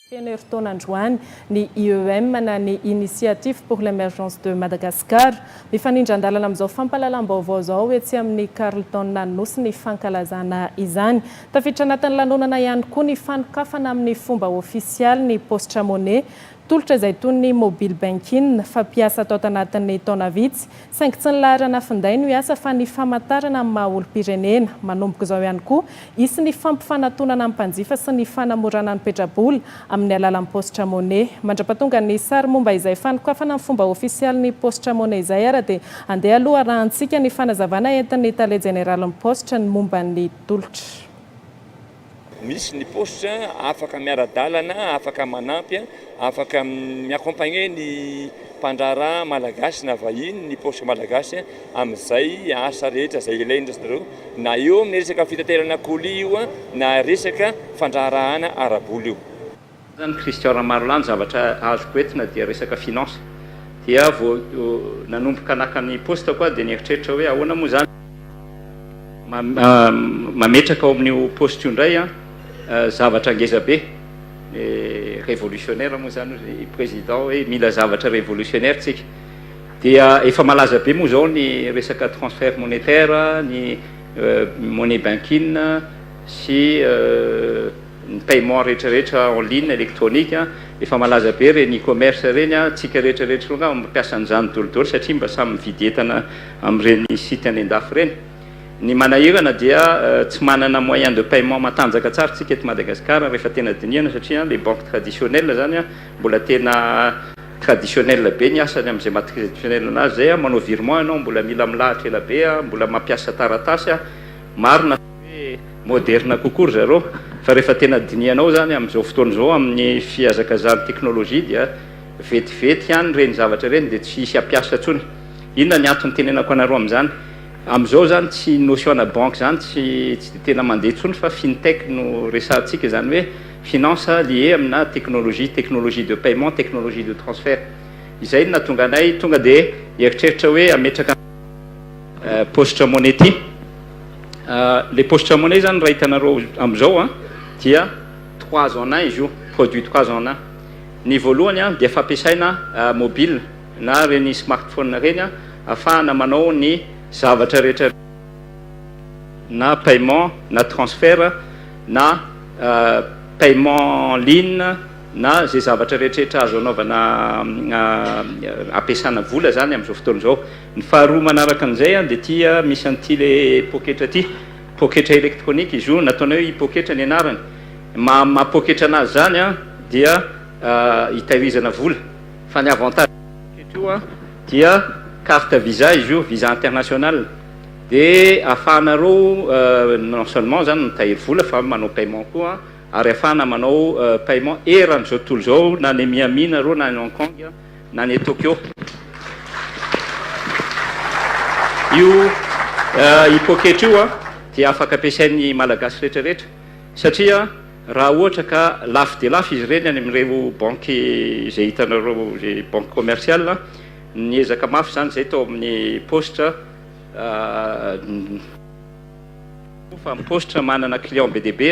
Feno herintaona androany ny IEM na ny Initiative pour l'Emergence de Madagascar. Mifanindran-dalana amin'izao fampahalalam-baovao izao etsy amin'ny Carlton Anosy ny fankalazana izany. Tafiditra anatin'ny lanonana ihany koa ny fanokafana amin'ny fomba ofisialy ny paositra money, tolotra izay toy ny mobile banking, fampiasa tao tanatin'ny taona vitsy. Saingy tsy ny laharana finday no hiasa fa ny famantarana ny maha olom-pirenena. Manomboka izao ihany koa, hisy ny fampifanatonana ny mpanjifa sy ny fanamorana ny petrabola amin'ny alalan'ny paositra money. Mandrapatonga ny sary momba izay fanokafana ny fomba ofisialy ny paositra money izay ary dia andeha aloha arahantsika ny fanazavana entin'ny tale jeneralin'ny paositra ny momba ny tolotra. Misy ny paositra afaka miara-dalana, afaka manampy, afaka mi-accompagner ny mpandraharaha malagasy na vahiny ny paositra malagasy amin'izay asa rehetra izay ilainy ry zareo, na eo amin'ny resaka fitaterana colis io na resaka fandraharahana ara-bola io. Zany Christian Ramarolany zavatra azoko entina dia resaka finance dia vao nanomboka naka ny poste ko aho dia nieritreritra hoe ahoana moa zany mametraka ao amin'io poste io indray zavatra ngeza be revolutionnaire moa zany ry président hoe mila zavatra revolutionnaire tsika dia efa malaza be moa zao ny resaka transfert monetaire ny money banking sy ny paiement rehetra rehetra en ligne electronique efa malaza be ireny e-commerce ireny a, tsika rehetra rehetra ireo angamba mampiasa an'izany dolidoly satria mba samy mividy entana amin'ireny site any an-dafy ireny, ny manahirana dia tsy manana moyen de paiement matanjaka tsara tsika eto Madagascar rehefa tena dinihana satria les banques traditionnelles zany a mbola tena traditionnelles be ny asany amin'izay maha traditionnelles anazy izay a, manao virement ianao mbola mila milahatra ela be a, mbola mampiasa taratasy a, marina. hoe moderina kokoa ry zareo fa rehefa tena dinihanao izany amin'izao fotoana izao amin'ny fihazakazahan'ny teknolojia dia vetivety ihany ireny zavatra ireny dia tsy hisy hampiasa intsony, inona ny antony itenenako anareo amin'izany? amin'izao izany tsy notion ana banque izany tsy tsy dia tena mandeha intsony fa fintech no resahantsika izany hoe finance lié amina teknolojia, technologie de paiement, technologie de transfert izay no nahatonga anay tonga dia nieritreritra hoe hametraka Postre monnaie ity. Ilay postre monnaie izany raha hitanareo amin'izao dia trois en un izy io, produit trois en un. Ny voalohany dia fampiasaina mobile na ireny smartphone ireny ahafahana manao ny zavatra rehetra na paiement na transfert na paiement en ligne na izay zavatra rehetrarehetra azo anaovana ampiasana vola izany amin'izao fotoana izao. Ny faharoa manaraka an'izay dia ity misy an'ity le poketra ity, poketra elektronika izy io, nataonay hoe i poketra ny anarany, maha maha poketra anazy zany dia hitahirizana vola, fa ny avantage poketra io dia carte visa izy io, visa international, dia afahanareo non seulement zany mitahiry vola fa manao paiement koa, ary afahana manao paiement eran'izao tontolo izao na any Miami nareo na any Hong Kong, na any Tokyo. Io poketra io dia afaka ampiasain'ny Malagasy rehetrarehetra satria raha ohatra ka lafo dia lafo izy ireny any amin'ireo banky izay hitanareo, izay banky commercial, niezaka mafy izany izahay tao amin'ny Poste. fa ny paositra manana client be dia be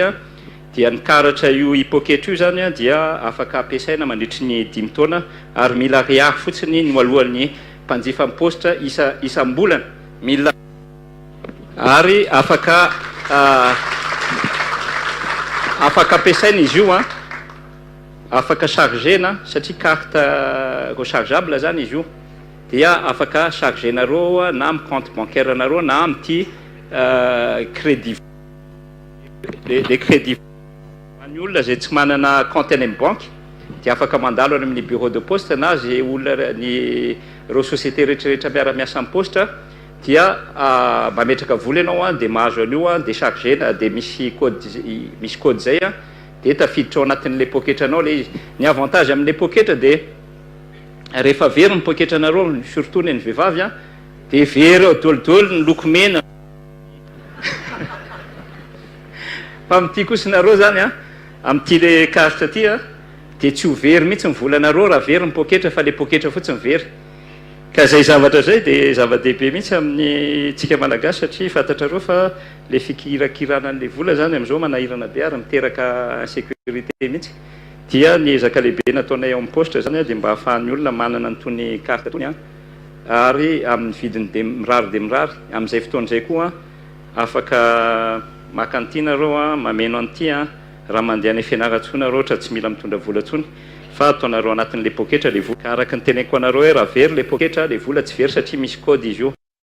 dia ny karatra io hipoketra io izany dia afaka ampiasaina mandritry ny dimy taona ary mila ariary fotsiny no aloan'ny mpanjifa ny paositra isa isam-bolana mila ary afaka afaka ampiasaina izy io an afaka chargena satria carte rechargeable izany izy io dia afaka charger nareo na am compte bancaire nareo na amty credit le credit any olona zay tsy manana compte any am banky dia afaka mandalo any aminy bureau de poste na ze olona ny reo société retraretra miara miasa am poste dia mametraka vola enao an dia mahazo anio an dia charger na dia misy code misy code zay an dia tafiditra ao anatinle poketranao le izy ny avantage amle poketra dia Rehefa very ny poketra nareo surtout ny an'ny vehivavy a dia very eo dol dol ny loko mena fa amin'ity kosa nareo zany a amin'ity le karitra ty a dia tsy ho very mihitsy ny vola nareo raha very ny poketra fa le poketra fotsiny very ka zay zavatra zay dia zava-dehibe mihitsy amin'ny tsika malagasy satria fantatrareo fa le fikirakirana an'le vola zany am'zao manahirana be ary miteraka insécurité mihitsy Dia ny ezaka lehibe nataonay ao amin'ny paositra izany dia mba hahafahan'ny olona manana an'itony carte itony ary amin'ny vidiny be mirary dia mirary. Amin'izay fotoana izay koa afaka maka an'ity nareo, mameno an'ity raha mandeha any Fianarantsoa nareo ohatra tsy mila mitondra vola intsony fa ataonareo anatin'ilay poketra ilay vola. Ka araka ny teneniko anareo hoe raha very ilay poketra dia vola tsy very satria misy code izy io.